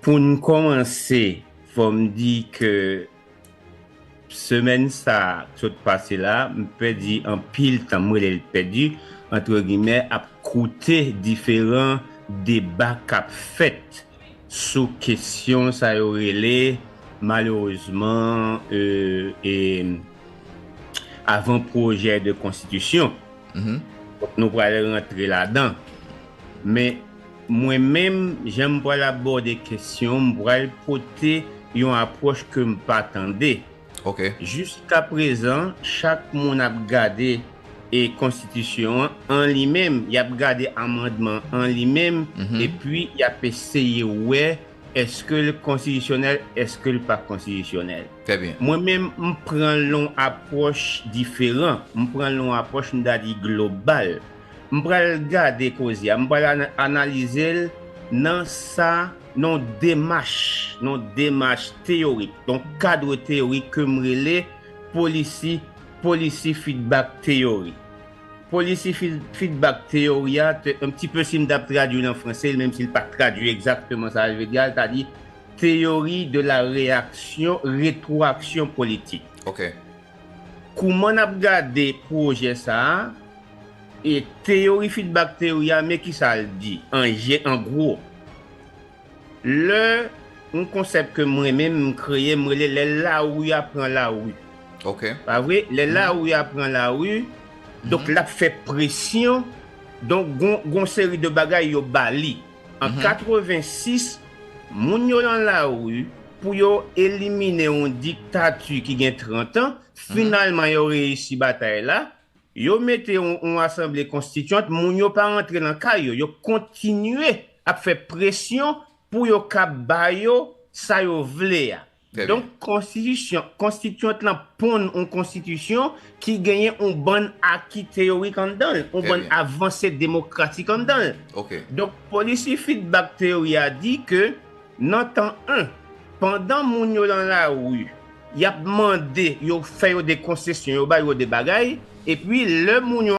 Pou n kòmanse, fò m di ke semèn sa a k sot pase la, m pèdi anpil tan, m rele l pèdi antre gimè, ap koute diferan deba k ap fèt sou kesyon sa yo rele malerezman avan pwojè de konstitisyon. Nou pral rantre ladan. Men. Mwen menm, jan m pral abòde kesyon, m pral pote yon apwòch ke m pa tande. Ok. Jiskaprezan, chak moun ap gade e konstitisyon an an li menm, y ap gade amandman an li menm, epi y ap eseye wè èske l konstitisyonèl, èske l pa konstitisyonèl. Trè byen. Mwen menm, m pran l yon apwòch diferan. M pran l yon apwòch m ta di global. M pral gade koze a, m pral analize l nan sa, nan yon demach, nan yon demach teyorik, nan yon kadre teyorik ke m rele polisi, policy feedback theory. Policy feedback theory a, un petit peu si m t ap tradui l an franse, menm si l pa tradui egzakteman sa l vle di a, l ta di theory de la reaction, retroaction politique. Ok. Kouman nap gade pwojè sa a e teyori fidbak teyori a men kisa l di an je an gwo lè yon konsèp ke m renmen m kreye m rele lè lari a pran lari pa vre lè lari a pran lari donk lap fè presyon donk gon gon seri de bagay yo ba li. An 86, moun yo lan lari pou yo elimine yon diktati ki gen 30 an, finalman yo reyisi batay la, yo mete yon asanble konstityant, moun yo pa rantre lan kay yo, yo kontinye ap fè presyon pou yo kab ba yo sa yo vle a. Donk konstitisyon, konstityant lan ponn on konstitisyon ki genyen on bann aki teyorik anndan l, on bann avanse demokratik anndan l. Donk policy feedback theory a di ke nan tan 1, pandan moun yo lan lari, y ap mande yo fè yo de konsesyon, yo ba yo de bagay, epi lè moun yo.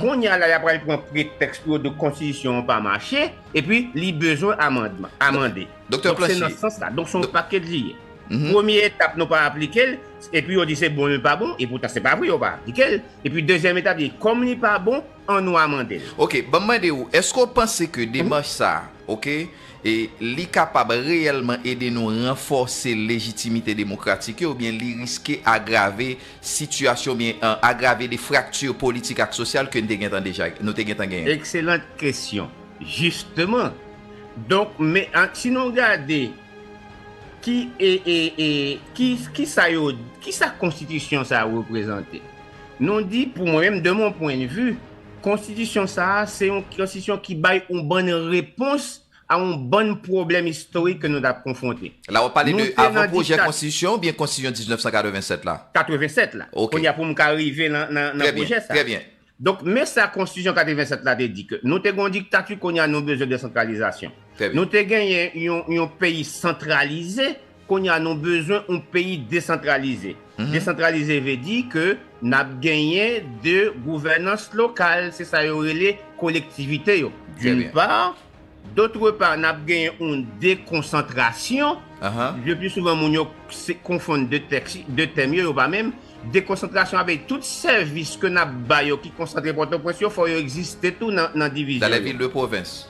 Konnya la ya pral pran pretèks pou yo di konstitisyon an pa mache epi li bezwen amandman, amande. Donk se nan sans la. Donk se yon pakèt li ye. Premye etap nou pa aplike l, epi yo di se bon li pa bon, epoutan se pa vre yo pa aplike l. Epi dezyèm etap li, kòm li pa bon, an nwa mande l. Ok, banm mande ou, eske ou panse ke demach sa, ok, e li kapab reyèlman ede nou ranfòse lejitimite demokratik yo oubyen li riske agrave sitiyasyon oubyen agrave de frakti politik ak sosyal ke n te gentan deja, nou te gentan genyen? Excellente question. Justement, donk men si nou gade. Ki e e e ki ki sa yo ki sa konstitisyon sa reprezante? Nou di pou mwen menm de mon pwen de vi, konstitisyon sa se yon konstitisyon ki bay yon bann repons a yon bann pwoblèm istorik ke nou t ap konfwonte. La w ap pale de avan pwojè konstitisyon an oubyen konstitisyon 1987 la? 87 la. Ok. Kounye a pou m ka rive nan nan pwojè sa. Trè byen, trè byen. Donk men sa konstitisyon 87 la te di ke nou te gen yon diktati kounye a nou bezwen desantralizasyon. Nou te genyen yon peyi santralize kounye a nou bezwen yon peyi desantralize. Desantralize vle di ke n ap genyen 2 gouvènans lokal se sa yo rele kolektivite yo d'une part, D'autre part, nap genyen oun dekonsantrasyon, le pli souvan moun yo konfonn de tèks, de tèm yo, yo pa menm, dekonsantrasyon avè tout sèvis ke nap ba yo ki konsantre Pòtoprens yo, fò yo egziste tou nan divizyon yo. Dans les villes de province.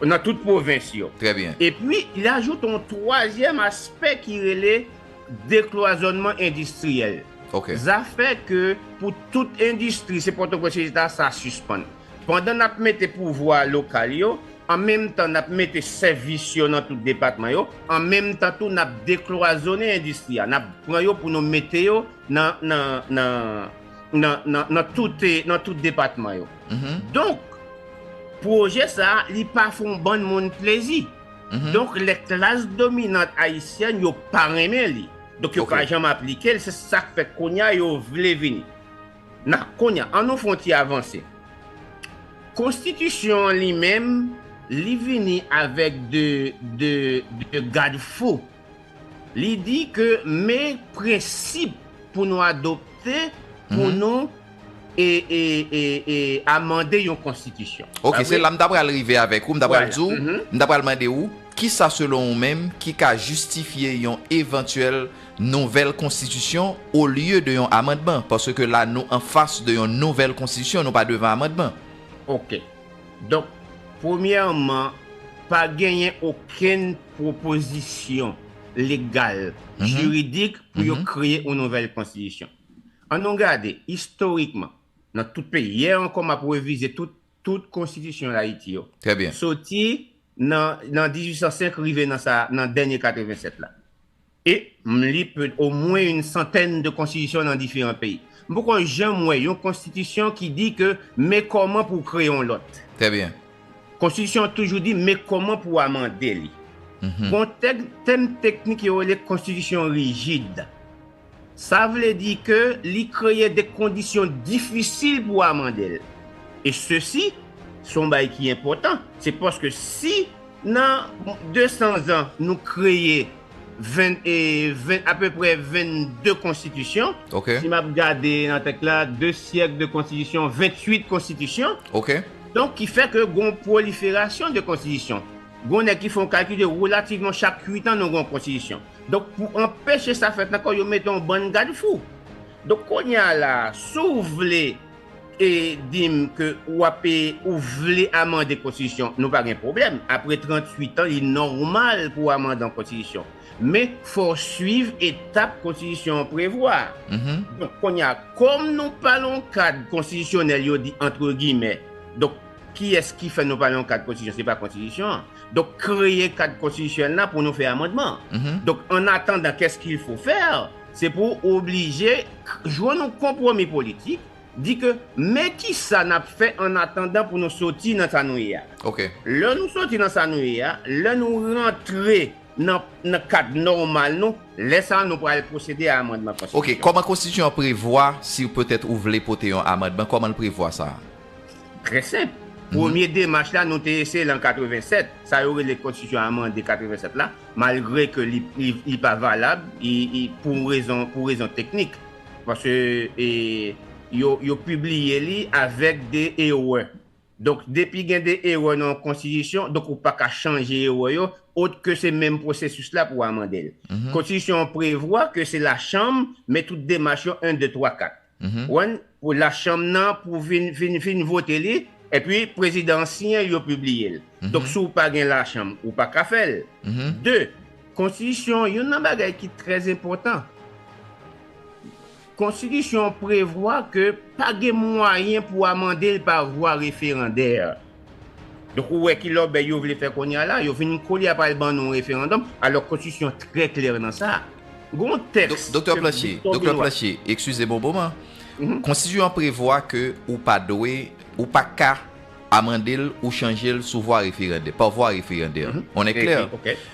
Nan tout pwovens yo. Très bien. E pwi, li ajoute oun twazyèm aspè ki rele deklwazònman endistriyèl. Ok. Zafè ke pou tout endistri se Pòtoprens yo ye ta, sa sispann. Pandan n ap mete pouvwa lokal yo, an menm tan n ap mete sèvis yo nan tout depatman yo, an menm tan tou n ap deklwazone endistri a, n ap pran yo pou nou mete yo nan tout depatman yo. Donk, pwojè sa a, li pa fè yon bann moun plezi. Donk, lè klas dominant ayisyèn yo pa renmen li, donk yo pa janm aplike l, se sa k fè kounye a yo vle vini. Na konya an nou fon ti avanse. Konstitisyon an li menm li vini avèk de de de gad fou. Li di ke me prensip pou nou adopte pou nou e e e e amande yon konstitisyon. Ok se la m ta pral rive avèk ou, m ta pral di w, m ta pral mande ou, kisa selon ou menm ki ka jistifye yon evantyèl nouvèl konstitisyon olye de yon amandman, paske la nou an fas de yon nouvèl konstitisyon, nou pa devan amandman. Ok. Donk, premyèman, pa genyen okenn pwopozisyon legal, jiridik pou yo kreye yon nouvèl konstitisyon. An nou gade, istorikman, nan tout peyi, yè ankò m ap revize tout konstitisyon Dayiti yo, soti nan 1805 rive nan sa a, nan dènye 87 la. E m li peut o mwen yn santèn de konstitisyon nan diferan peyi. M poko janm wè yon konstitisyon ki di ke men kòman pou w kreye yon lòt. Trè byen. Konstitisyon an toujou di men kòman pou w amande li. Gon tèm teknik yo rele konstitisyon rijid. Sa vle di ke li kreye de kondisyon difisil pou w amande l. E sesi, se yon bagay ki enpòtan, se paske si nan 200 zan nou kreye. 20 e 20 apeprè 22 konstitisyon si map gade nan tèks la 2 syèk de konstitisyon 28 konstitisyon donk ki fè ke gon proliferasyon de konstitisyon gon nèg ki fè yon kalkil de relativman chak 8 an nou gon konstitisyon donk pou anpeche sa fèt ankò yo mete yon bann gadfou donk kounye a la sou vle e dim ke ou ap e ou vle amande konstitisyon nou pa gen pwoblèm apre 38 an li nòmal pou amande yon konstitisyon men fò w swiv etap konstitisyon an prevwa donk kounye a kòm nou pa lan yon kad konstitisyonèl yo di antre gimè donk kiyès ki fè nou pa lan yon kad konstitisyon se pa konstitisyon an donk kreye kad konstitisyonèl la pou nou fè amandman donk an atandan kès kil fo fè Se pou ou oblije jwenn yon konpwomi politik, di ke men kisa n ap fè an atandan pou nou soti nan sa nou ye a. Lè nou soti nan sa nou ye a, lè nou rantre nan kad nòmal nou, lè sa a nou pral pwosede a amandman konstitisyon. Ok, kòman konstitisyon an prevwa si petèt ou vle pote yon amandman, kòman l prevwa sa a? Trè senp. Premye demach la nou te eseye l an 87, sa yo rele konstitisyon amande 87 la, Malgre ke li pa valab pou rezon teknik, paske yo pibliye li avèk de erè. Donk depi gen de erè nan yon konstitisyon, donk ou pa ka chanje erè yo, ot ke se menm pwosesis la pou amande l. Konstitisyon an prevwa ke se lachanm men tout demach yo 1, 2, 3, 4. One pou lachanm nan pou vin vin vin vote li epi prezidan an siyen l yo pibliye l donk si w pa gen lachanm ou pa ka fè l de konstitisyon youn nan bagay ki trè enpòtan konstitisyon an prevwa ke pa gen mwayen pou amande l pa vwa referandè. Donk ou wè ki lòbèy yo vle fè kounye a la, yo vin kole a pral ban nou yon referandòm, alòk konstitisyon an trè klè nan sa. Gon yon tèks ke Doktè Planche, Doktè Planche, ekskize m yon moman, konstitisyon an prevwa ke ou pa dwe, ou pa ka amande l ou chanje l sou vwa referandè, pa vwa referandè, on est clair?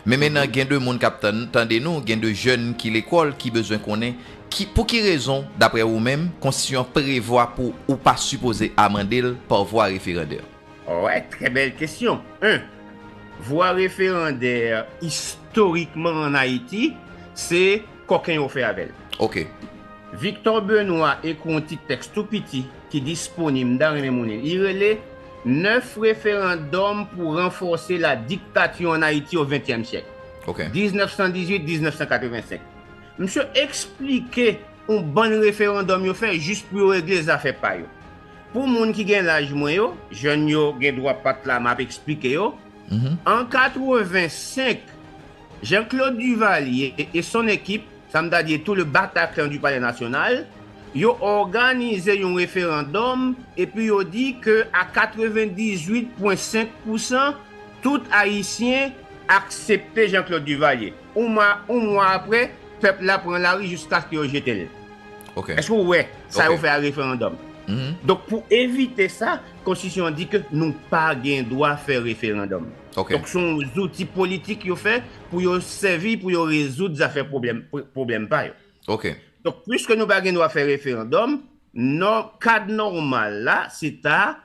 Men mennan gen de moun k ap tande nou, gen de jèn ki lekòl ki bezwen konnen Ki, pou ki rezon, dapre ou menm, Konstitisyon an prevwa pou ou pa sipoze amande l pa vwa referandè? Oè, trè bèl kesyon. 1, Vwa referandè, istorikman an Ayiti, se kòken yo fè avè l. Ok. Victor Benoît ekri yon ti tèks tou piti ki disponib, m ta renmen moun li l, li rele Neuf référendums pour renforcer la dictature en Haïti au XXe siècle, 1918-1985. Misye eksplike on bann referandòm yo fè jis pou yo regle zafè pa yo. Pou moun ki gen laj mwen yo, jèn yo gen dwa pa t la m ap eksplike yo, an 85, Jean Claude Duvalier et son équipe, sa m ta di e tout le Bataclan du Palais National, yo òganize yon referandòm epi yo di ke a 98,5 pousan tout Ayisyen aksepte Jean Claude Duvalier. On mwa apre, pèp la pran lari jiskaske yo jete l. Èske ou wè sa yo fè a referandòm? Donk pou evite sa, konstitisyon an di ke nou pa gen dwa fè referandòm. Donk se yon zouti politik yo fè pou yo sèvi pou yo rezoud zafè pwoblèm pa yo. Donk piske nou pa gen dwa fè referandòm, kad nòmal la se ta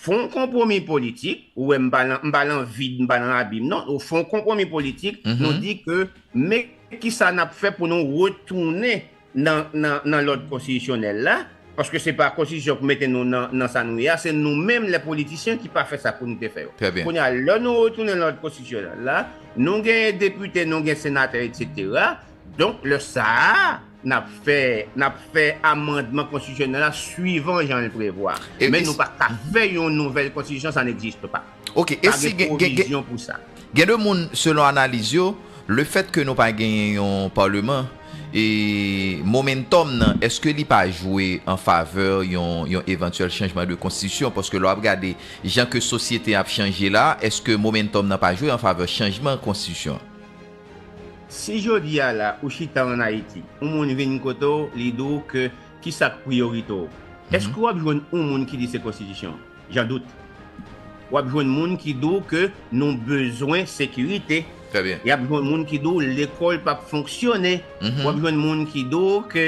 Fè yon konpwomi politik, ou wè m pa lan vid, m pa lan abim non, nou fè yon konpwomi politik, nou di ke men kisa n ap fè pou nou retounen nan lòd konstitisyonèl la, paske se pa konstitisyon ki mete nou nan sa nou ye a, se nou menm lè politisyen ki pa fè sa pou nou te fè yo. Kounye a lè nou retounen nan lòd konstitisyonèl la, nou gen depite, nou gen senatè, etc. Donk lè sa a, n ap fè n ap fè amandman konstitisyonèl la suivan jan l prevwa. Men nou pa ka fè yon nouvèl konstitisyon, sa n'existe pas. Ok, e si gen pwovizyon pou sa. Gen de moun, selon analiz yo, le fèt ke nou pa genyen yon Parlement, e momentum nan, eske li pa jwe an favè yon yon evantyèl chanjman de konstitisyon? Paske lè w ap gade jan ke sosyete an ap chanje la, eske momentum nan pa jwe an favè chanjman konstitisyon an? Si jodi a la ou chita an Ayiti, yon moun vin kote w, li di w ke ki sa k priyorite w? Eske w ap jwenn yon moun ki di se konstitisyon an? Jan doute. W ap jwenn moun ki di w ke nou bezwen sekirite. Trè byen. Y ap jwenn moun ki di w lekòl pa p fonksyone. W ap jwenn moun ki di w ke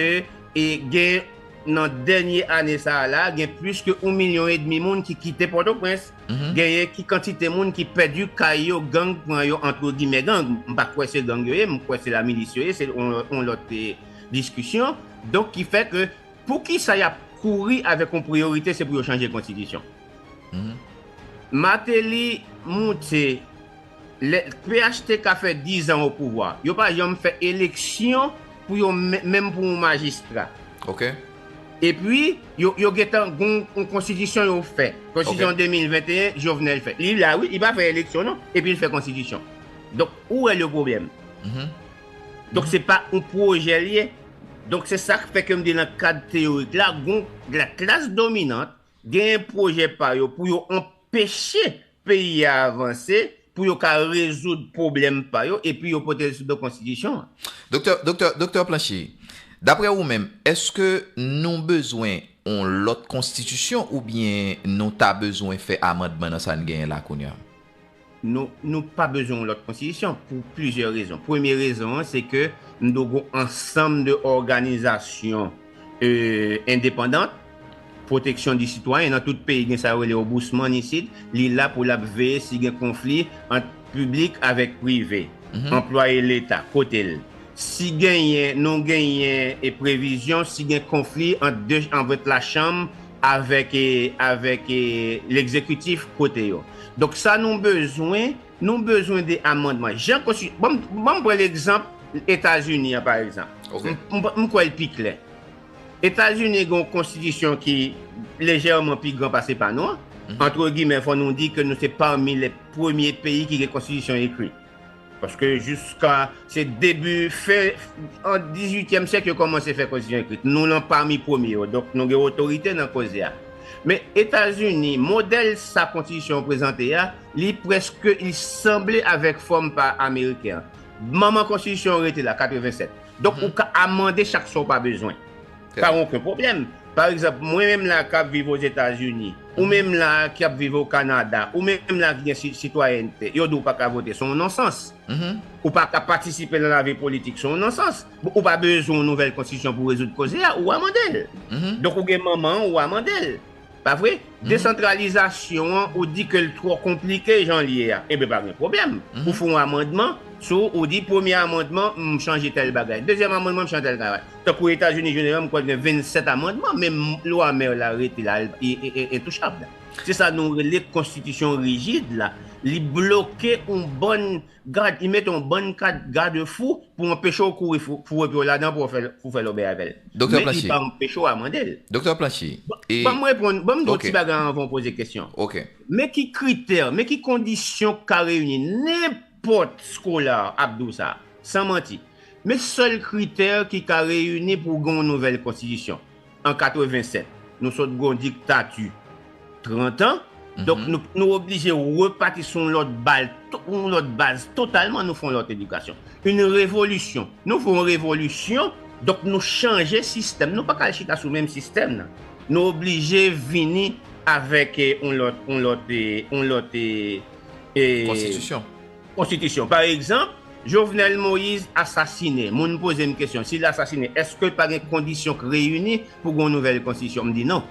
e gen nan dènye ane sa a la, gen plis ke yon milyon edmi moun ki kite Pòtoprens. Genyen ki kantite moun ki pèdi kay yo gang pran yo antre gimè gang, m pa kwè se gang yo ye m kwè se la milis yo ye se yon lòt diskisyon donk ki fè ke pou kisa yap kouri avèk yon priyorite se pou yo chanje konstitisyon Martelly moute Lè phtk fè 10 ans o pouvwa yo pa janm fè eleksyon pou yo menm pou yon majistra ok epi yo gentan gon yon konstitisyon yo fè konstitisyon 2021 jovenel fè li la wi li pa fè eleksyon non epil fè konstitisyon donk ou wè le pwoblèm donk se pa yon pwojè liye donk se sak fè kem di nan kad teyorik la gon la klas dominant genyen pwojè pa yo pou yo anpeche peyi a avanse, pou yo ka rezoud pwoblèm pa yo epi yo pote l sou do konstitisyon an. Doktè, doktè, doktè Planché, daprè ou menm, èske nou bezwen yon lòt konstitisyon oubyen nou ta bezwen fè amandman nan sa n genyen la kounye a? Nou, nou pa bezwen yon lòt konstitisyon pou plizyè rezon. Premye rezon an se ke n do gen yon ansanm de òganizasyon. e endepandant, pwoteksyon di sitwayen nan tout peyi gen sa yo rele obousman isit, li la pou lap veye si gen konfli ant piblik avèk prive, anplwaye leta, kote l si genyen nou genyen e previzyon si gen konfli ant de anvèt lachanm avèk e avèk e legzekitif kote yo donk sa nou bezwen. Nou bezwen de amandman. Jan konsti, ban m, ban m pran legzanp Etazini an pa egzanp. Ok. M, m kwè l pi klè. Etazini gen yon konstitisyon ki lejèman pi gran pase pa nou an. Antre gimè fò nou di ke nou se pami lè premye peyi ki gen konstitisyon ekri. Paske jiska, se debi fen an dizuityèm syèk yo kòmanse fè konstitisyon ekri. Nou lan pami premye yo. Donk nou gen otorite nan koze a. Men Etazini, modèl sa konstitisyon an prezante a, Li preske li sanble avek fòm pa ameriken an. Manman konstitisyon rete la 87. Donk ou ka amande chak sa ou pa bezwen. Pa oken pwoblèm. Pa egzanp mwen menm la kap viv o Zetazini, ou menm la ki ap viv o Kanada, ou menm la ki gen sitwayènte, yo di ou pa ka vote, son non sans. Ou pa ka patisipe nan lavi politik, son non sans. Ou pa bezwen yon nouvèl konstitisyon pou rezoud koze a, ou amande l. Donk ou gen manman ou amande l. Pa vre? Desantralizasyon an ou di ke l twò konplike jan l ye a. Enben pa gen pwoblèm. Ou fè yon amandman sou, ou di premye amandman m chanje tèl bagay, dezyèm amandman m chanje tèl bagay. Tankou Etazini jeneral m kwè l gen 27 amandman men lwa Mèr la rete la li entouchab. Se sa nou rele konstitisyon rijid la. Li bloke yon bann Gad, li mete yon bann kad gade fou pou anpeche w kouri fou epi w ladan pou w fè lòbèy avè l. Doktè Planche. Men li pa anpeche w amande l. Doktè Planche, e. Ban m reponn, ban m di w yon ti bagay anvan w poze kesyon. Ok. Men ki kritè, men ki kondisyon ki ka reyini nenpòt scholar ap di w sa, san manti. Men sèl kritè ki ka reyini pou w gen yon nouvèl konstitisyon. an 87 nou sot gon diktati 30 an donk nou nou oblije repati sou yon lòt bal yon yon lòt baz totalman nou fè yon lòt edikasyon yn revolisyon nou fè yon revolisyon donk nou chanje sistèm nou paka al chita sou menm sistèm nan nou oblije vini avèk yon lòt yon lòt yon lòt e konstitisyon. Konstitisyon. Pa egzanp, Jovenel Moise asasine. Moun poze m kesyon, si l asasine, èske pa gen kondisyon k reyini pou gen yon nouvèl konstitisyon? M di non.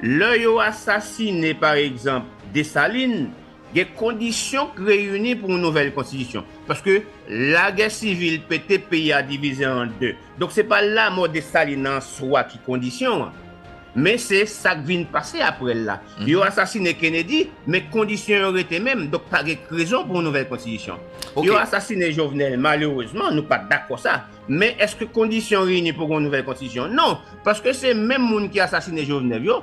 Lè yo asasine, pa egzanp, Desalin, gen kondisyon k reyini pou yon nouvèl konstitisyon. Paske lagè sivil pete, peyi a divize an de. Donk se pa lamò Desalin an swa ki kondisyon an. Men se sak vin pase aprè l la. Yo asasine Kennedy, men kondisyon yo rete menm, donk pa gen rezon pou yon nouvèl konstitisyon. Yo asasine Jovenel, malerezman, nou pa dakò sa, men èske kondisyon reyini pou gen yon nouvèl konstitisyon? Non, paske se menm moun ki asasine Jovenel yo,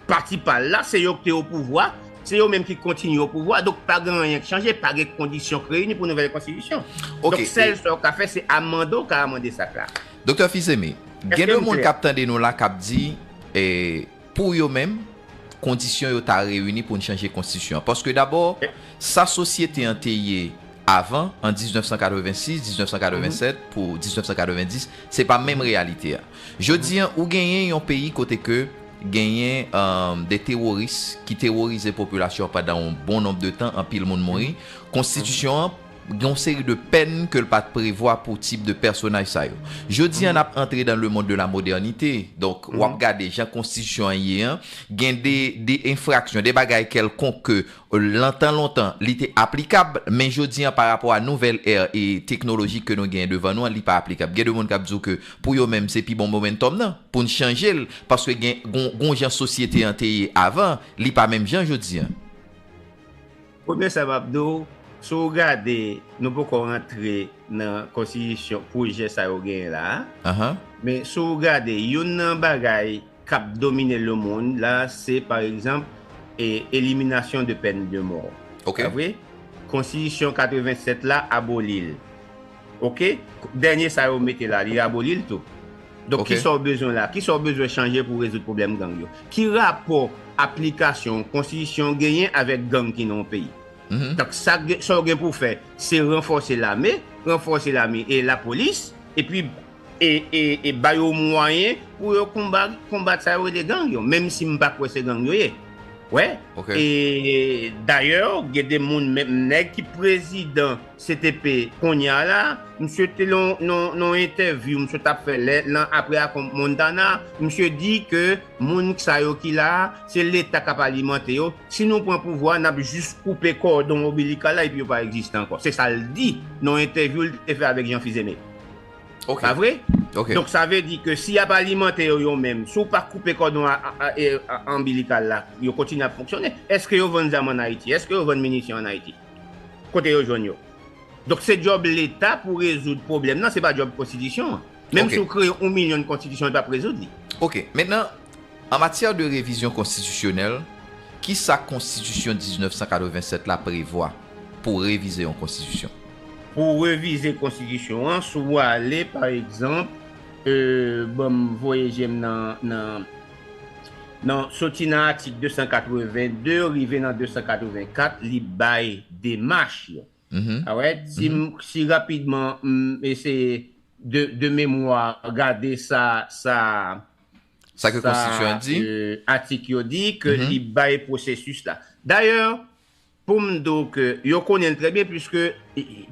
pati pa l la, se yo ki te opouvwa, se yo menm ki kontinye opouvwa, donk pa gen anyen ki chanje, pa gen kondisyon ki reyini pou yon nouvèl konstitisyon. Donk sèl sa w ka fè se amande, w ka amande sak la. Doktè Fils-Aimé, gen de moun k ap tande nou la k ap di, pou yo menm, kondisyon yo ta reyini pou n chanje konstitisyon an. Paske dabò, sa sosyete an te ye avan, an 1986, 1987, pou 1990, se pa menm reyalite a. Jodi an, ou genyen yon peyi kote ke genyen de teworis ki teworize popilasyon an pandan yon bon nonb de tan, anpil moun mouri, konstitisyon an, Gen yon seri de pèn ke l pat prevwa pou tip de pèsonaj sa yo. Jodi an n ap antre dan le mond de la modènite, donk w ap gade jan konstitisyon an ye an, gen de de enfraksyon, de bagay kèlkonk ke lan tan lontan li te aplikab, men jodi an pa rapò a nouvèl è e teknolojik ke nou genyen devan nou an li pa aplikab. Gen de moun k ap di w ke pou yo menm se pi bon momentum nan pou n chanje l paske gen gon gon jan sosyete an te ye avan li pa menm jan jodi an. Premye sa map di w, si w gade nou poko rantre nan konstiyisyon pwojè sa yo genyen la a, men si w gade youn nan bagay kap domine lemonn la se pa egzanp eliminasyon de pèn de mò, pa vre? Konstiyisyon 87 la aboli l. Ok dènye sa yo mete la li aboli l tou? Donk Ok. kisa w bezwen la? Kisa w bezwen chanje pou rezoud pwoblèm gang yo? Ki rapò aplikasyon yon konstitisyon genyen avèk gang ki nan yon peyi? Donk sa k gen sa w gen pou w fè se ranfòse lame, ranfòse lame e lapolis epi e e e ba yo mwayen pou yo konba konbat sa yo rele gang yo menm si m pa kwè se gang yo ye wè Ok. e dayè gen de moun menm nèg ki prezidan CTP konya la misye te nan yon entèvyou misye tap fè lè nan aprè akon Montana misye di ke moun sa yo ki la se leta kap alimante yo si nou pran pouvwa nap jis koupe kòdon obilikal la epi yo pa egziste ankò se sal di nan yon entèvyou li te fè avèk Jean Fils-Aimé pa vre donk sa vle di ke si yap alimante yo yo menm si w pa koupe kòdon anbilikal la yo kontinye ap fonksyone èske yo vann zam an Ayiti èske yo vann minisyon an Ayiti. Kote yo jwenn yo? Donk se djòb leta pou rezoud pwoblèm nan, se pa djòb konstitisyon an. Menm si w kreye yon milyon konstitisyon li p ap rezoud li. Ok. Mentnan, an matyè de revizyon konstitisyonèl, ki sa konstitisyon 1987 la prevwa pou revize yon konstitisyon? Pou w revize konstitisyon an, si w ale pa egzanp, ban m voye je m nan. nan soti nan atik 282 rive nan 284 li bay demach yo alright si rapidman m eseye de memwa gade sa sa sa ke konstitityon an di atik yo di ke li bay pwosesis la dayè Pou m di w ke yo konnen l trè byen puiske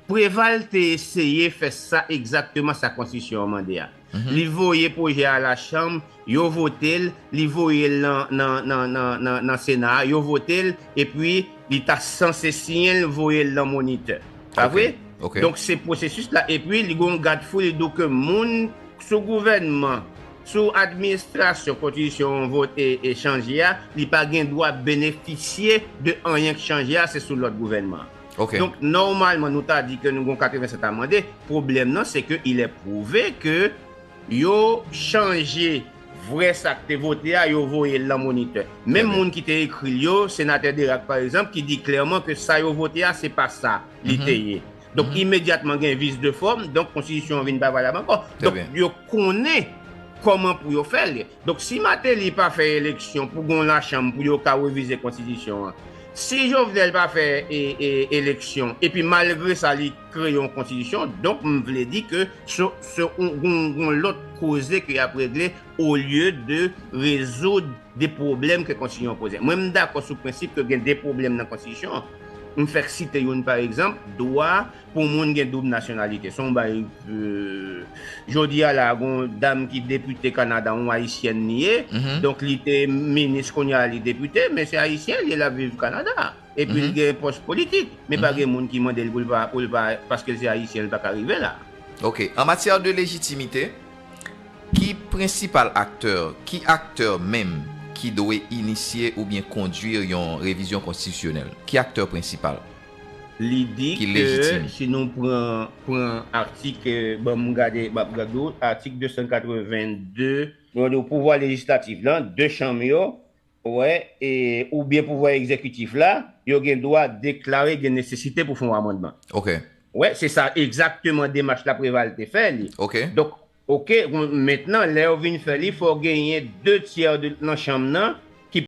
Preval te eseye fè sa egzakteman sa konstitisyon an mande a. Li voye pwojè a lachanm, yo vote l, li voye l nan sena a, yo vote l, epi li ta sanse siyen l voye l nan monitè. Pa vre? Donk se pwosesis la epi li gen yon gadfou li di w ke moun sou gouvènman. Sou administrasyon kontitisyon an vote e chanje a, li pa gen dwa benefisye de anyen k chanje a, se sou lòd gouvènman an. Donk nòmalman nou ta di ke nou gon 87 amande, pwoblèm nan se ke il est prouve ke yo chanje vrè sa k te vote a, yo voye l lan monitè. Menm moun ki te ekri l yo, senatè Derac pa egzanp ki di klèman ke sa yo vote a se pa sa li te ye. Donk imedyatman gen vice de forme, donk konstitisyon an vin pa valab ankò. Donk yo konnen kòman pou yo fè l. Donk si Martelly pa fè eleksyon pou gen yon lachanm pou yo ka revize konstitisyon an, si Jovenel pa fè eleksyon epi malgre sa li kreye yon konstitisyon, donk m vle di ke se yon lòt koze ke y ap regle olye de rezoud 2 pwoblèm ke konstitisyon an poze. Mwen m dakò sou prensip ke gen 2 pwoblèm nan konstitisyon an. M fèk site youn pa egzanp, dwa pou moun gen doub nasyonalite. Son bagay jodi a la gon dam ki depite Kanada yon ayisyèn li ye, donk li te minis kounye a li depite, men se ayisyen li ye lap viv Kanada epi li gen pòs politik, men pa gen moun ki mande l pou l pa paske l se ayisyen li pa ka rive la. Ok. An matyè de lejitimite. Ki prensipal aktè, ki aktè menm ki dwe inisye oubyen kondwir yon revizyon konstitisyonèl? Ki aktè prensipal? Li di ke si nou pran pran atik ban m gade map gad ou atik 282. Yo di w pouvwa lejislatif lan, 2 chanm yo, Wè, e, oubyen pouvwa egzekitif la, yo gen dwa deklare gen nesesite pou fè yon amandman. Ok. Wè, se sa egzakteman demach la Preval te fè li. Ok. Donk, ok, mentnan, lè yo vin fè li, fò genyen de tyè de nan chanm nan ki.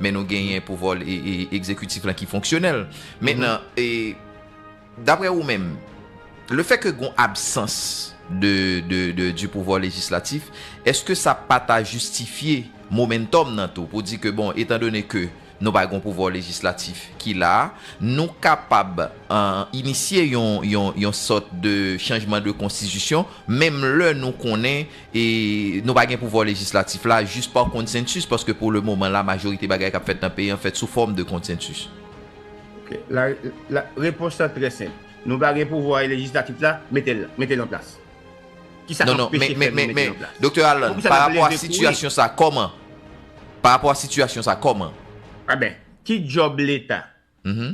Men nou genyen pouvwa egzekitif la ki fonksyonèl. Mentnan, dapre ou menm, le fè ke gon absans di pouvwa lejislatif, eske sa pa ta jistifye momentum nan tou pou di ke bon, etan done ke nou pa gon pouvwa lejislatif ki la, nou kapab inisye yon sòt de chanjman de konstitisyon, menm lè nou konnen E nou pa gen pouvwa lejislatif la jis pa konsensis paske pou le moman la majorite bagay kap fèt nan peyi an fèt sou fòm de konsensis. Ok la la repons lan trè senp. Nou pa gen pouvwa lejislatif la, mete l mete l an plas. Kisa kap peche fè nou mete l an plas? Doktè Alan, pa rapò a sitiyasyon sa kòman? Pa rapò a sitiyasyon sa kòman? Aben, ki djòb leta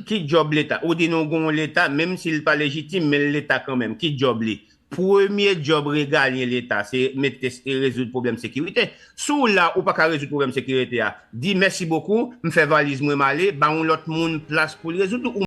Ki djòb leta? Ou di nou gen yon leta, menm si l pa lejitim, men l leta kanmenm. Ki djòb li? Premye djòb regalyen leta se mete rezoud pwoblèm sekirite. Si w la, ou pa ka rezoud pwoblèm sekirite a, di mèsi bokou, m fè valiz mwen m ale, ba yon lòt moun plas pou l rezoud ou.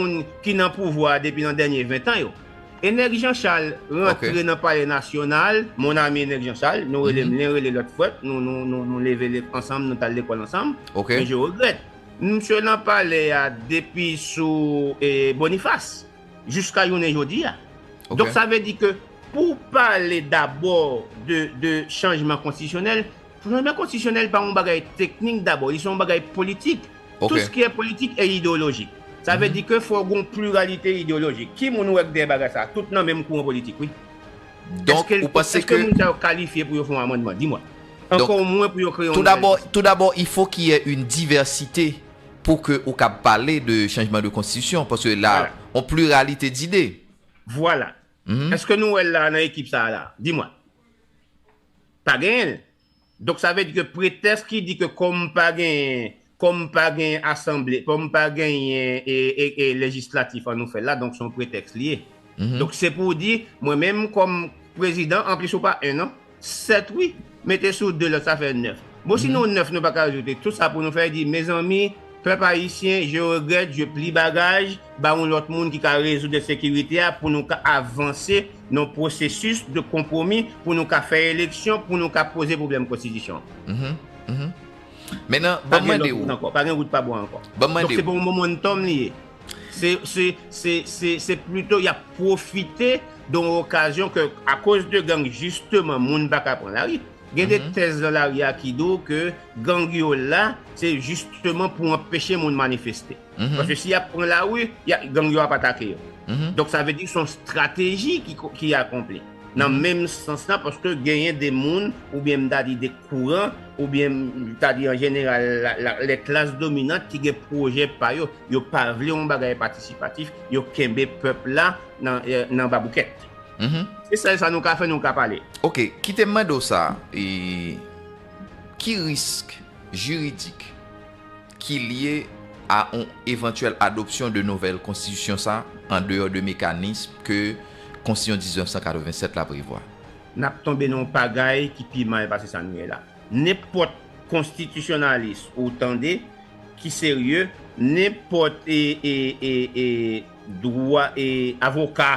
moun ki nan pouvwa a depi nan dènye 20 tan yo. Enèg Jean Charles rantre nan palè nasyonal, mon ami Enèg Jean Charles, nou rele m len rele lòt frèt, nou leve ansanm, nou t al lekòl ansanm, men je regrèt. Msye nan palè a depi sou Boniface jiska jounen jodi a. Donk sa vle di ke pou w pale dabò de chanjman konstitisyonèl, Chanjman konstitisyonèl pa yon bagay teknik dabò, li se yon bagay politik. Ok. Tout ske politik e ideyolojik. Sa vle di ke fò gon pliralite ideyolojik. Ki moun ou wè k dèyè bagay sa? Tout nan menm kouran politik wi. Donk Eske ou panse eske ke moun sa yo kalifye pou yo fon amandman? Di mwen. Donk Ankò mwen pou yo kreye yon Tou nouvèl dabò, konstitisyon. tou dabò il faut ki yè yn divèsite pou ke ou kab pale de chanjman de konstitisyon paske la Vwala. on pliralite dide. Vwala. Eske nou wè l la nan ekip sa a la? Di mwen. Pa genyen l. Donk sa vle di ke pretèsk ki di ke kòm pa genyen, kòm pa genyen asanble, kòm pa genyen e lejislatif an nou fè l la, donk se yon pretèks li ye. Donk se pou w di, mwen menm kòm prezidan, anplis ou pa 1 non, 7 wi, mete sou 2 lòt sa fè 9. Bon si nou 9 nou pa ka rezoud li, tout sa pou nou fè di, mezanmi, Pèp ayisyen je regrèt je pli bagaj ba yon lòt moun ki ka rezoud ensekirite a pou nou ka avanse nan yon pwosesis de konpwomi pou nou ka fè eleksyon pou nou ka poze pwoblèm konstitisyon an pa gen lòt wout ankò pa gen wout pa bò ankò donk se pa yon momentum li ye se plito y ap pwofite de yon okazyon ke akoz de gang jisteman moun pa ka pran lari. Gen de tèz nan lari a ki di w ke gang yo la se jisteman pou anpeche moun manifeste. Paske si y ap pran lari, gang yo ap atake yo. Donk sa vle di se yon estrateji ki akonpli. Nan menm sans la, paske genyen de moun oubyen m ta di de kouran oubyen m ta di an jeneral lè klas dominant ki gen pwojè pa yo. Yo pa vle yon bagay patisipatif, yo kenbe pèp la nan baboukèt. Se sèl sa nou ka fè, nou ka pale. Ok, kite m mande w sa, ki risk jiridik ki lye a yon evantyèl adopsyon de nouvèl konstitisyon sa an deyò de mekanism ke konstitisyon 1987 la prevwa? N ap tonbe nan yon pagay ki pi mal pase sa nou ye la. Nenpòt konstitisyonalis ou tande ki serye, nenpòt avoka.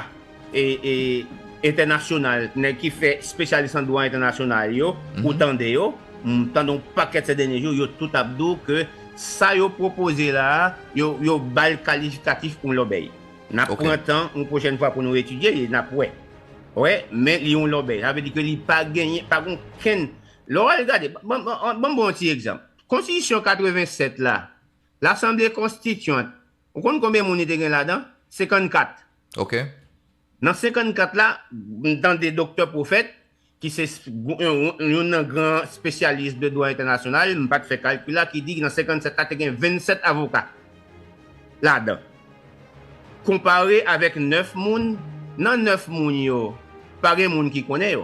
entènasyonal nèg ki fè spesyalis an dwa entènasyonal yo ou tande yo m tande yon pakèt sè dènye jou yo tout ap di w ke sa yo pwopoze la a yo ba l kalifikatif yon lòbèy n ap pran tan yon pwochèn fwa pou nou etidye li n ap wè wè men li yon lòbèy sa vle di ke li pa genyen pa gen okenn lè w al gade ban m ba w yon ti egzanp konstitisyon 87 la lasanble konstityant Ou konn konbyen moun li te gen ladan? 54. Ok. Nan 54 la, m tande Doktè Prophète, ki se youn nan gran spesyalis de dwa entènasyonal, m pa t fè kalkil la, ki di nan 57 la te gen 27 avoka ladan. Konpare avèk 9 moun, nan 9 moun yo, Pa gen moun ki konnen yo.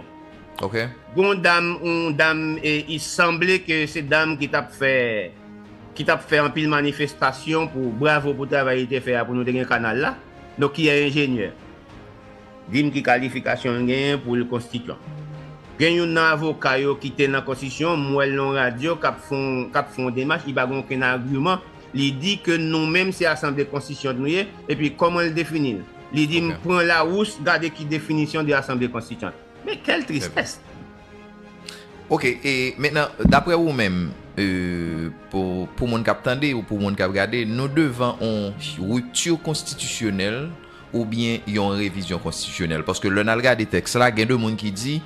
Ok. Gon dam on dam e i sanble ke se dam ki tap fè ki tap fè anpil manifestasyon pou bravo pou travay li te fè a pou nou te gen kanal la donk ki e enjenyè. Dim ki kalifikasyon l genyen pou l konstityon. Gen youn nan avoka yo ki te nan konstityon m wè l nan radyo kap fon kap fon demach li pa gen okenn agiman li di ke nou menm se asanble konstityon nou ye epi koman l defini l. Li di m pran Larousse gade ki definisyon de asanble konstityant. Men kèl tristès! Ok, e mentnan daprè ou menm, pou moun kap tande ou pou moun kap gade, nou devan on rupture konstitisyonèl oubyen yon revizyon konstitisyonèl? Paske lè nal gade tèks la gen de moun ki di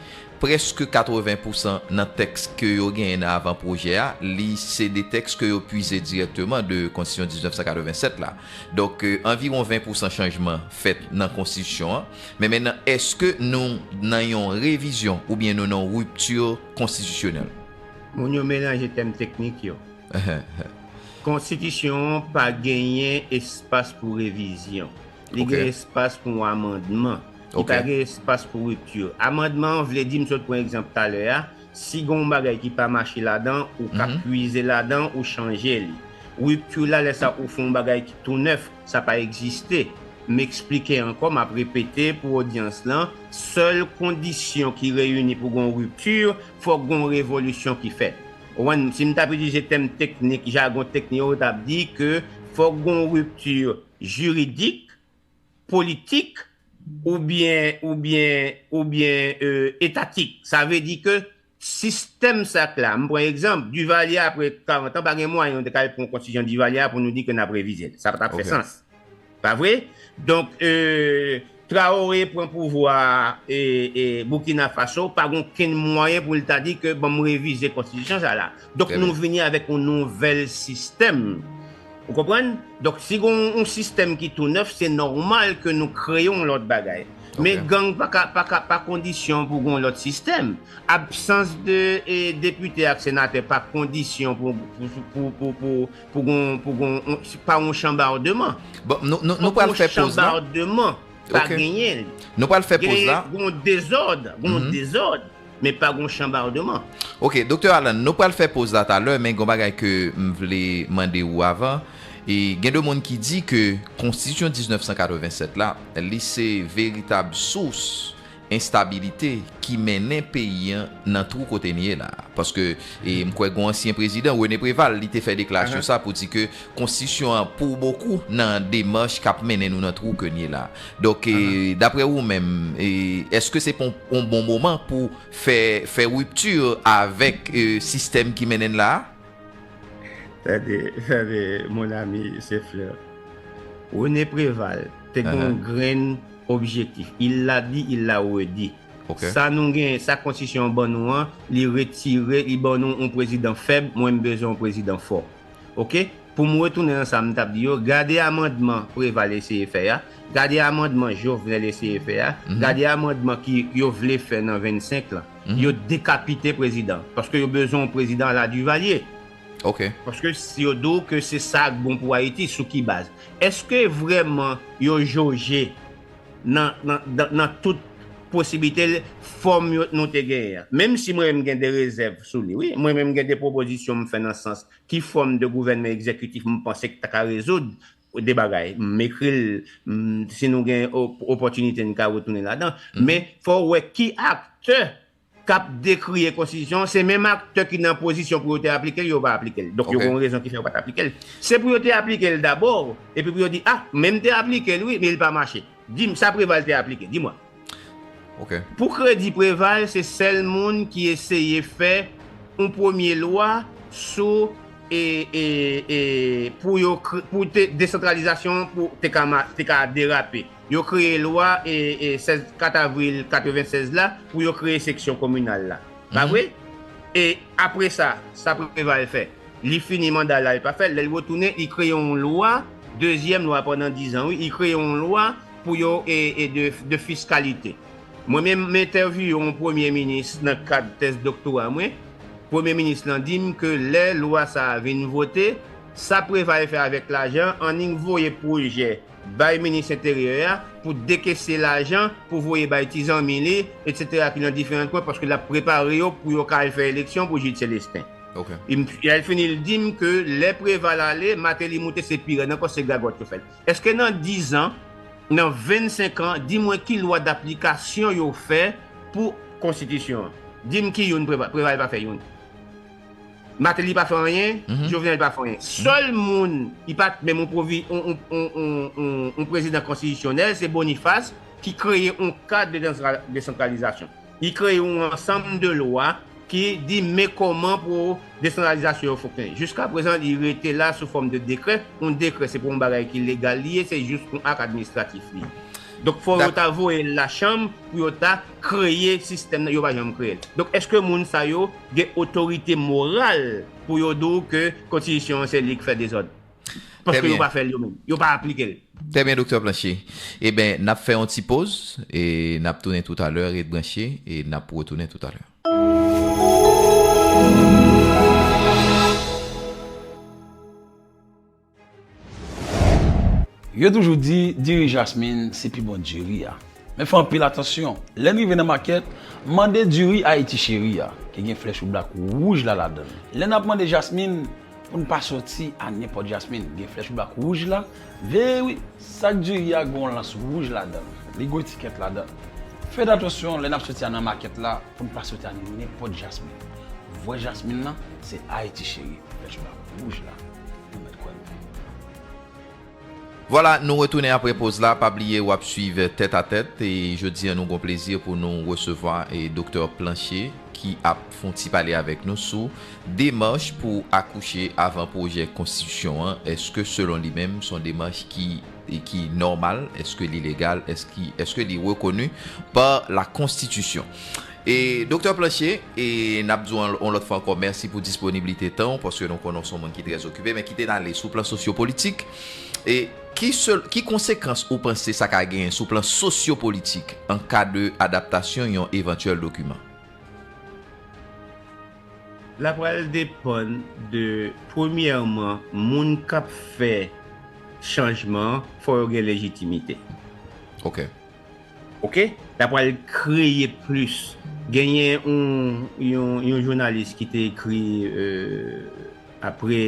Prèske 80 pousan nan tèks ke yo genyen nan avan pwojè a, li se de tèks ke yo pwize dirèkteman de Konstitisyon 1987 la. Donk, anviwon 20 pousan chanjman fèt nan Konstitisyon an. Men mennan, èske nou nan yon revizyon oubyen nou nan yon ripti konstitisyonèl? Moun yo melanje tèm teknik yo. Konstitisyon an pa genyen espas pou revizyon. Li gen espas pou yon amandman. Li pa gen espas pou ripti. Amandman an vle di, m sot pran egzanp talè a, si gen yon bagay ki pa mache ladan, ou ka pwize ladan, ou chanje li. Ripti la, lè sa ou fè yon bagay ki tou nèf, sa pa egziste. M eksplike ankò, m ap repete pou odyans lan, sèl kondisyon ki reyini pou gen yon ripti, fòk gen yon revolisyon ki fèt. Konprann? Si m t ap itilize tèm teknik, jagon teknik yo, m t ap di ke fòk gen yon ripti. jiridik, politik oubyen oubyen oubyen etatik. Sa vle di ke sistèm sa k la, m pran egzanp, Duvalier apre 40 an pa gen mwayen nou te ka al pran konstitisyon Duvalier a pou nou di ke n ap revize l. Sa pa t ap fè sans. Pa vre? Donk. Traoré pran pouvwa Burkina Faso pa gen okenn mwayen pou li ta di ke banm revize konstitisyon sa la. Donk nou vini avèk yon nouvèl sistèm. Ou konprann? Donk si gen yon sistèm ki tou nèf se nòmal ke nou kreye yon lòt bagay. Men gang pa kondisyon pou gen yon lòt sistèm. Absans de depite ak senatè pa kondisyon pou Pou gon, pou gon, pa gon chanbardeman. Bon, nou, nou, nou pral fè poz la. Fòk gon chanbardeman, pa genyen li. Ok, nou pral fè poz la. Gen, gon dezòd, gon dezòd, men pa gon chanbardeman. Ok, Doktè Alan, nou pral fè poz la talè, men gon bagay ke m vle mande ou avan. E, gen de moun ki di ke Konstitisyon 1987 la, li se veritab sous enstabilite ki mennen peyi an nan twou kote n ye la a. Paske m kwè gon ansyen prezidan, René Préval, li te fè deklarasyon sa pou di ke konstitisyon an pou bokou nan demach k ap mennen nou nan twou ke n ye la a. Donk, daprè ou menm, èske se pa yon bon moman pou fè fè ripti avèk sistèm ki mennen n la a? Tande, tande, mon ami, se Fleur. René Préval te gen yon grenn. Objektif, il l'a dit, il l'a redit. Sa nou genyen, sa konstitisyon an ban nou an, li retire, li ban nou yon prezidan fèb, mwen m bezwen yon prezidan fò. Ok, pou m retounen nan sa m t ap di yo, gade amandman Preval eseye fè a, gade amandman Jovenel eseye fè a, gade amandman ki yo vle fè nan 25 lan. Yo dekapite prezidan an, paske yo bezwen yon prezidan ala Duvalier. Ok. Paske yo di w ke se sa k bon pou Ayiti, sou ki baz? Eske vreman yo joje nan tout posiblite fòm yo nou te genyen an? Menm si mwen menm gen de rezèv sou li wi, mwen menm gen de pwopozisyon m fè nan sans ki fòm de gouvènman egzekitif m panse ki ta ka rezoud de bagay. M ekri l, si nou gen opòtinite n ka retounen ladan. Men fò w wè ki aktè kap dekriye konstitisyon se menm aktè ki nan pozisyon pou yo te aplikel yo pa aplikel donk yo gen yon rezon ki fè yo pat aplikel se pou yo te aplikel dabò epi pou yo di ah menm te aplikel wi men li pa mache dim sa Preval te aplike di mwen pou kredi Preval se sèl moun ki eseye fè yon premye lwa sou e e e pou yo pou te desantralizasyon pou te ka derape. Yo kreye lwa 16 4 avril 96 la pou yo kreye seksyon kominal la. Pa vre? E apre sa, sa Preval fè? Li fini manda l a, li pa fè l. Lè l retounen, li kreye yon lwa, dezyèm lwa pandan dizan wi, li kreye yon lwa pou yo de fiskalite. Mwen menm m entèvyouye yon premye minis nan kad tèz doktora mwen, premye minis lan di m ke lè lwa sa a vin vote, sa Preval fè avèk lajan an li voye pwojè. bay minis enteryè a pou dekese lajan pou voye bay ti zanmi li etc ki nan diferan kwen paske lap prepare yo pou yo ka al fè eleksyon pou Jude Celestin lè l fini l dim ke lè Preval ale Martelly moute se pi rèd ankò se gagòt yo fèt eske nan 10 an nan 25 an di mwen ki lwa daplikasyon yo fè pou konstitisyon an dim ki youn Preval pa fè youn. Mateli pa fè anyen, Jovenel pa fè anyen. Sèl moun ki pa t menm yon prezidan konstitisyonèl se Boniface ki kreye yon kad de desantralizasyon. Li kreye yon ansanm de lwa ki di men kòman pou desantralizasyon yo fonksyone. Jiska prezan li rete la sou fòm de dekrè. Yon dekrè se pa yon bagay ki legal li ye, se jis yon ak administratif li ye. Donk fò yo ta voye l lachanm pou yo ta kreye sistèm nan, yo pa janm kreye l. Donk èske moun sa yo. gen otorite moral pou yo di w ke kontitisyon an se li k fè dezòd. Paske yo pa fè l yo menm. Yo pa aplike l. Trè byen Doktè Planché. Eben, n ap fè yon ti poz e n ap tounen toutalè. Ret branche e n ap retounen toutalè. Yo toujou di diri jasmin se pi bon diri a. Men fè anpil atansyon, lè n rive nan makèt, mande diri Ayiti Cheri a, ki gen flè choublak wouj la ladan l. Lè n ap mande jasmin, pou n pa soti a nenpòt jasmin, gen flè choublak wouj la, veye wi, sak diri a gen yon lans wouj ladan l, li gen etikèt ladan l. Fè atansyon lè n ap soti a nan makèt la pou n pa soti a nenpòt jasmin. Vrè jasmin lan se Ayiti Cheri, flè choublak wouj la. Vwala nou retounen apre poz la pa bliye wap swiv tèt a tèt e jodi an nou gon plezi pou nou resevwa doktè Planché ki ap fon ti pale avèk nou sou demach pou akouche avan pwojè konstitisyon an eske selon li menm son demach ki nòmal eske li legal eske li rekoni pa la konstitisyon. E Doktè Planche, e n ap di w yon lòt fwa ankò mèsi pou disponiblite tan w, paske nou konnen w se yon moun ki trè zokipe, men kite n ale sou plan sosyopolitik. E ki se, ki konsekans ou panse sa ka genyen sou plan sosyopolitik an ka de adaptasyon yon evantyèl dokiman? L ap pral depann de, premyèman, moun k ap fè chanjman an, fò yo gen lejitimite. Ok. Ok la pral kreye plis genyen yon jounalis ki te ekri apre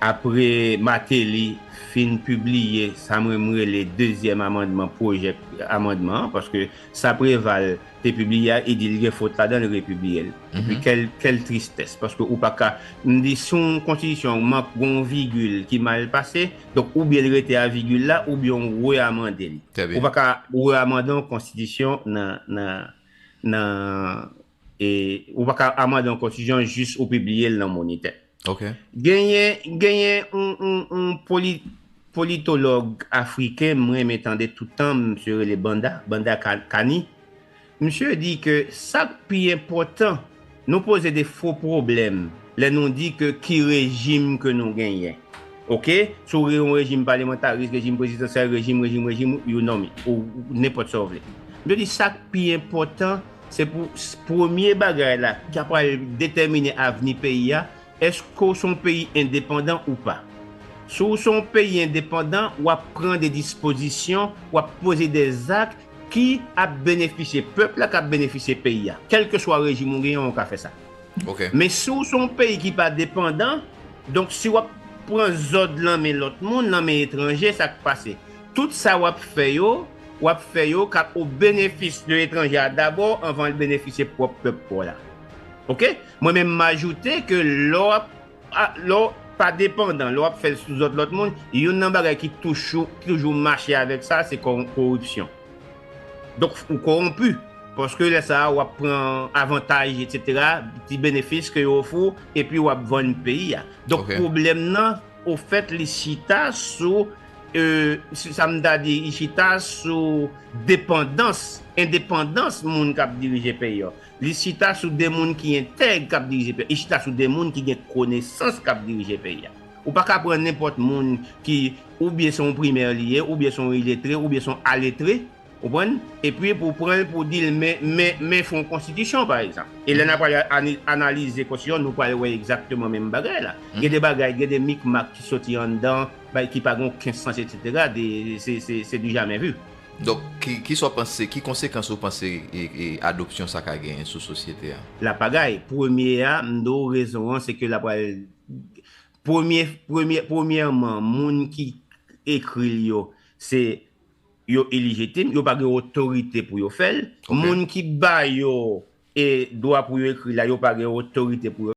apre Martelly fin pibliye sa mwen m rele dezyèm amandman pwojè amandman paske sa Preval te pibliye a e di li gen fot ladan l repibliye l epi kèl tristès paske ou pa ka m di si yon konstitisyon mank gen yon vigil ki mal pase donk oubyen li rete a vigil la oubyen ou reamande li ou pa ka reamande yon konstitisyon nan nan nan e ou pa ka amande yon konstitisyon jis ou pibliye l nan monitè. Ok. Genyen genyen yon yon yon poli politològ afriken m renmen tande tout tan misye rele Banda Banda ka Kani misye di ke sak pi enpòtan nou poze de fo pwoblèm lè nou di ke ki rejim ke nou genyen ok si w yon rejim palemantaris rejim prezidansyèl rejim rejim rejim you nom it ou nenpòt sa w vle misye di sak pi enpòtan Se pou premye bagay la ki pral detèmine avni peyi a, èske w se yon peyi endepandan ou pa. Si w se yon peyi endepandan, w ap pran de dispozisyon, w ap poze de zak ki ap benefisye pèp la, k ap benefisye peyi a. Kèlkeswa rejim ou genyen, ou ka fè sa. Men si w se yon peyi ki pa depandan, donk si w ap pran zòd lan men lòt moun, lan men etranje, sa k pase? Tout sa w ap fè yo, w ap fè yo k ap o benefis de etranje a dabò anvan l benefisye pwòp pèp pa w la. Ok? Mwen menm m ajoute ke lè w ap lè w pa depandan, lè w ap fè l sou zòd lòt moun, youn nan bagay ki touchou ki toujou mache avèk sa se kò koripsyon. Donk ou kowonpi. Paske lè sa a w ap pran avantaj etsetera, ti benefis ke yo ofri w epi w ap vann peyi a. Donk pwoblèm nan ofèt li chita sou Euhh sa m ta di i chita sou depandans, endepandans moun k ap dirije peyi yo. Li chita sou 2 moun ki entèg k ap dirije peyi yo. Li chita sou 2 moun ki gen konesans k ap dirije peyi yo. Ou pa ka pran nenpòt moun ki oubyen se yon primè li ye, oubyen se yon iletre, oubyen se yon aletre Konprann? Epi pou pran l pou di l men, men, men fon konstitisyon pa egzanp. E lè n ap al analize konstitisyon nou pral wè egzakteman menm bagay la. Gen de bagay, gen de mikmak ki soti anndan, bay ki pa gen oken sans etsetera, de, se, se, se du jamais vu. Donk, ki, ki sa w panse, ki konsekans ou panse adopsyon sa ka genyen sou sosyete a? La pagay. Premye a, m di w rezon an se ke la pral, premye, premye, premyèman moun ki ekri l yo se. Yo ilijitim, yo pa gen otorite pou yo fè l. Moun ki ba yo dwa pou yo ekri la, yo pa gen otorite pou yo.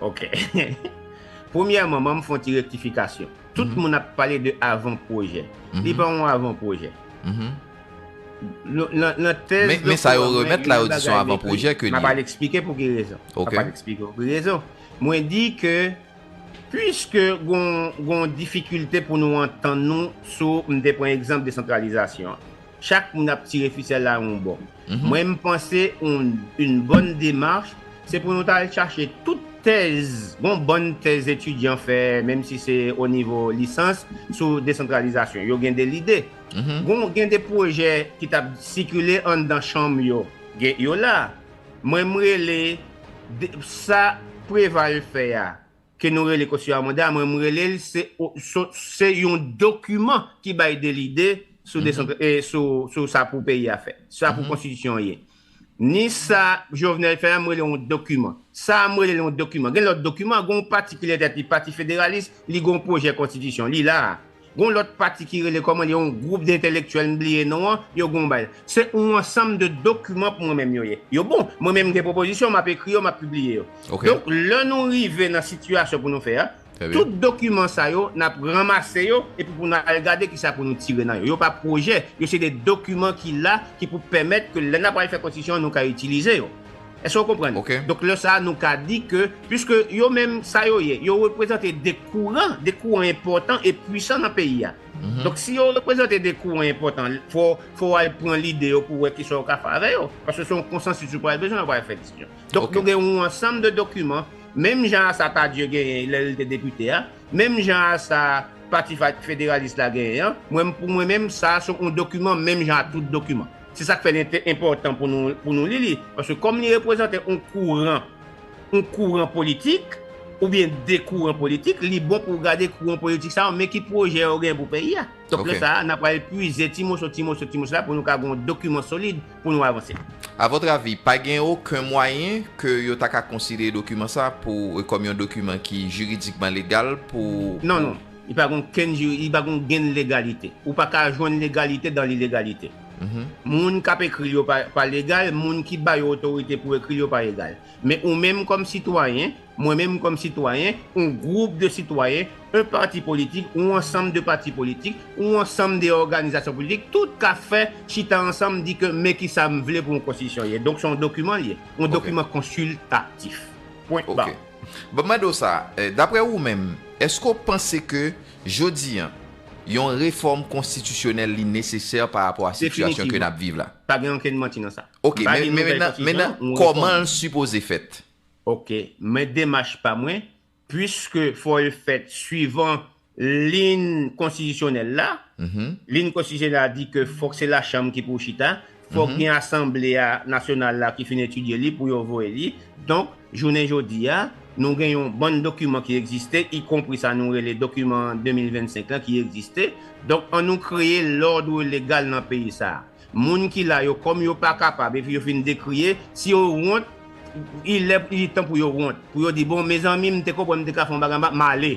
Ok Premyèman banm fon ti rektifikasyon tout moun ap pale de avan pwojè li pa yon avan pwojè nan tèz doktè an mwen gen yon bagay m ekri map al eksplike pou ki rezon map al eksplike pou ki rezon Mwen di ke puiske gon difikilte pou nou antann nou sou, m te pran egzanp desantralizasyon an, chak moun ap tire fisèl la yon bò. Mwen m panse yn bòn demach se pou nou ta al chache tout tèz, gon bann tèz etidyan fè menm si se o nivo lisans sou desantralizasyon. Yo gen de lide. Gen de pwojè ki t ap sikile anndan chanm yo, yo la. Mwen m rele sa Preval fè a ke nou rele kosyon a manda mwen m rele l se yon dokiman ki bay de lide sou sa pou peyi a fè sa pou konstitisyon an ye ni sa Jovenel fè a m rele yon dokiman sa a m rele l yon dokiman gen lòt dokiman gen yon pati ki lè tèt li pati federalis li gen yon pwojè konstitisyon li la a. Gon lòt pati ki rele kòman li yon gwoup dentèlektyèl m bliye non an, yo gon bay. Se yon ansanm de dokiman pou mwen menm yo ye. Yo bon. Mwen menm m gen pwopozisyon, m ap ekri yo, m ap pibliye yo. Donk lè nou rive nan sitiyasyon pou nou fè a, tout dokiman sa yo n ap ranmase yo epi pou nou al gade kisa pou nou tire nan yo. Yo pa pwojè, yo se de dokiman ki la ki pou pèmèt ke lè n ap pral fè konstitisyon an nou ka itilize yo. Èske w konprann? Donk lè sa a nou ka di ke, piske yo menm sa yo ye, yo reprezante de kouran, de kouran enpòtan e pwisan nan peyi a. Donk si yo reprezante de kouran enpòtan, fò w al pran lide yo pou w wè kisa w ka fè avè yo. Paske se yon konsansis ou pral bezwen lè w pral fè diskisyon. Donk nou gen yon ansanm de dokiman, menm jan a sa Tardieu genyen lè l te depite a, menm jan a sa pati federalis la genyen an, mwen pou mwen menm sa a se yon dokiman menm jan a tout dokiman. Se sa k fè li enpòtan pou nou li li, paske kòm li reprezante yon kouran, yon kouran politik, oubyen de kouran politik, li bon pou w gade kouran politik sa yo men ki pwojè yo gen pou peyi a. Donk lè sa a, n ap pral pwize ti moso, ti moso, ti moso la pou nou ka gen yon dokiman solid pou nou avanse. A vòtre avi, pa gen oken mwayen ke yo ta ka konsidere dokiman sa a kòm yon dokiman ki jiridikman legal pou. Non, non. Li pa gen okenn jiri, li pa gen ognenn legalite. Ou pa ka jwenn legalite dan lilegalite. Moun k ap ekri l yo pa pa legal, moun ki ba yo otorite pou ekri l yo pa egal. Men ou menm kòm sitwayen, mwen menm kòm sitwayen, on gwoup de sitwayen, on pati politik, on ansanm de pati politik, on ansanm de òganizasyon politik, tout ka fè chita ansanm di ke men ki sa m vle pou on konstitisyon ye. Donk se on dokiman l ye. On dokiman konsiltatif. Pwen ba. Banm mande w sa, daprè ou menm, èske w panse ke jodi an, yon refòm konstitisyonèl li nesesè pa rapò a sitiyasyon ke nap viv la? Definitivman. Pa gen okenn manti nan sa. Ok, mennen kòman l sipoze fèt? Ok, men demach pa mwen, pwiske fò l fèt swivan Lin konstitisyonèl la, lin konstitisyonèl la di ke fòk se lachanm ki pou chita, fòk gen asanble a nasyonal la ki fin etidye li pou yo voye li, donk jounen jodi a nou gen yon bann dokiman ki egziste ikonpri sa nou rele dokiman 2025 lan ki egziste, donk an nou kreye lòdre legal nan peyi sa a. Moun ki la yo kòm yo pa kapab epi yo fin dekriye, si yo wont li lè li tan pou yo wont, pou yo di bon mezanmi m te konprann m te ka fè yon bagay anba m ale,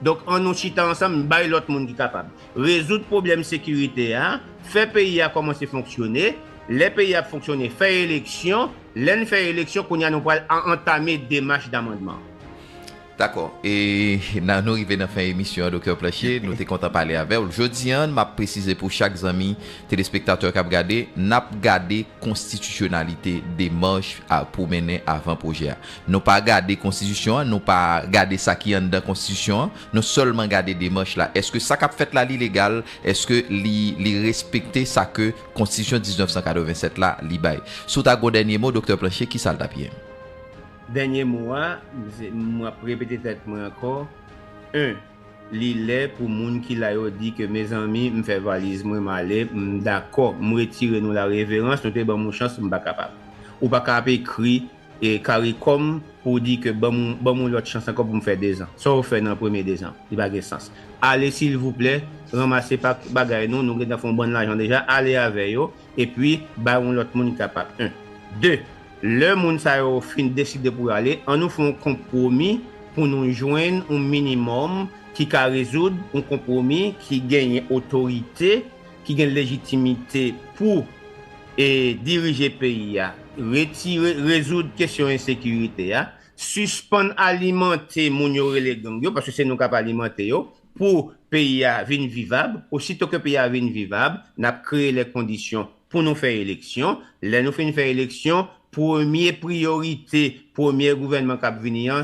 Donk an nou chita ansanm bay lòt moun ki kapab. Rezoud pwoblèm sekirite a, fè peyi a kòmanse fonksyone, lè peyi a ap fonksyone fè eleksyon, lè n fè eleksyon kounye a nou pral antame demach damandman. Dakò. E nan nou rive nan fen emisyon an Doktè Planché, nou te kontan pale avè w. Jodi an, m ap presize pou chak zanmi telespektatè k ap gade, n ap gade konstitisyonalite demach pou mennen avan pwojè a. Nou pa gade konstitisyon an, nou pa gade sa ki anndan konstitisyon an, nou sèlman gade demach la. Eske sa k ap fèt la li legal? Eske li respekte sa ke konstitisyon 1987 la li bay? Si w ta gen yon dènye mo Doktè Planché, kisa l t ap ye? Dènye mo a, m ap repete tèt mwen ankò, 1, Li lè pou moun ki la yo di ke mezanmi m fè valiz mwen m ale, m dakò, m retire nou lareverans, nou te ban m yon chans, m pa kapab. Ou pa ka ap ekri Caricom pou w di ke banm banm yon lòt chans ankò pou m fè 2 zan. Sa w fè nan premye 2 zan? Li pa gen sans. Ale silvouplè ranmase pa bagay nou, nou gentan fè yon bann lajan deja, ale avè yo epi bay yon lòt moun ki kapab 1. 2, lè moun sa yo fin deside pou yo ale, an nou fè yon konpwomi pou nou jwenn yon minimòm ki ka rezoud, yon konpwomi ki genyen otorite, ki gen lejitimite pou. e dirije peyi a, retire, rezoud kesyon ensekirite a, sispann alimante moun yo rele gang yo, paske se nou kap alimante yo, pou peyi a vin vivab, osito ke peyi a vin vivab, nap kreye lè kondisyon pou nou fè eleksyon, lè nou fin fè eleksyon, premye priyorite premyè gouvènman kap vini an,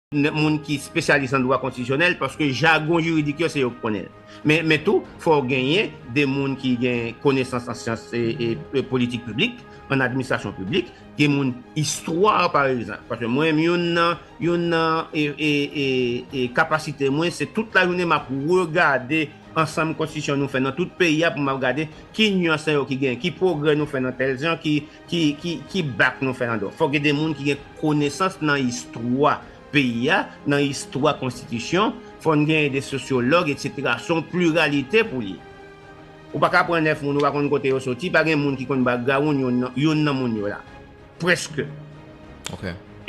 moun ki spesyalis nan dwa konstitisyonèl paske jagon jiridik yo se yo ki konnen l. Men men tou fò w genyen 2 moun ki gen konesans an syans e politik piblik, an administrasyon piblik, gen moun istwa pa egzanp paske mwen menm youn nan youn nan e kapasite mwen se tout lajounen m ap regade ansanm konstitisyon nou fè nan tout peyi a pou m ap gade ki nyans sa yo ki gen, ki pwogrè nou fè nan tèl jan ki Ki bak nou fè andò? Fòk gen de moun ki gen konesans nan istwa peyi a, nan istwa konstitisyon, fò n genyen de sosyològ eksetera. Se yon pliralite pou l ye. Ou pa ka pran 9 moun ou pa konn kote yo soti, pa gen moun ki konn bakgrawoun youn nan moun yo la. Prèske.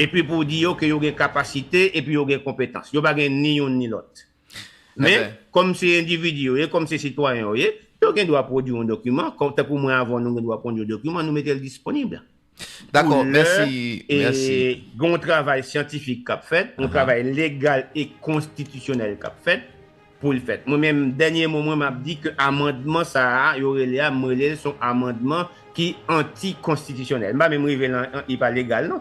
Epi pou w di yo ke yo gen kapasite epi yo gen konpetans. Yo pa gen ni youn ni lòt. Men, kòm se endividi yo ye, kòm se sitwayen yo ye, yo gen dwa pwodui yon dokiman, tankou mwen avè w nou gen dwa pwodui yon dokiman, nou mete l disponib. Dakò, mèsi, mèsi. Gen yon travay syantifik k ap fèt, yon travay legal e konstitisyonèl k ap fèt pou l fèt. Mwen menm, dènye mo mwen, m ap di ke amandman sa a yo rele a, m rele l se yon amandman ki antikonstitisyonèl. M pa menm rive nan li pa legal non.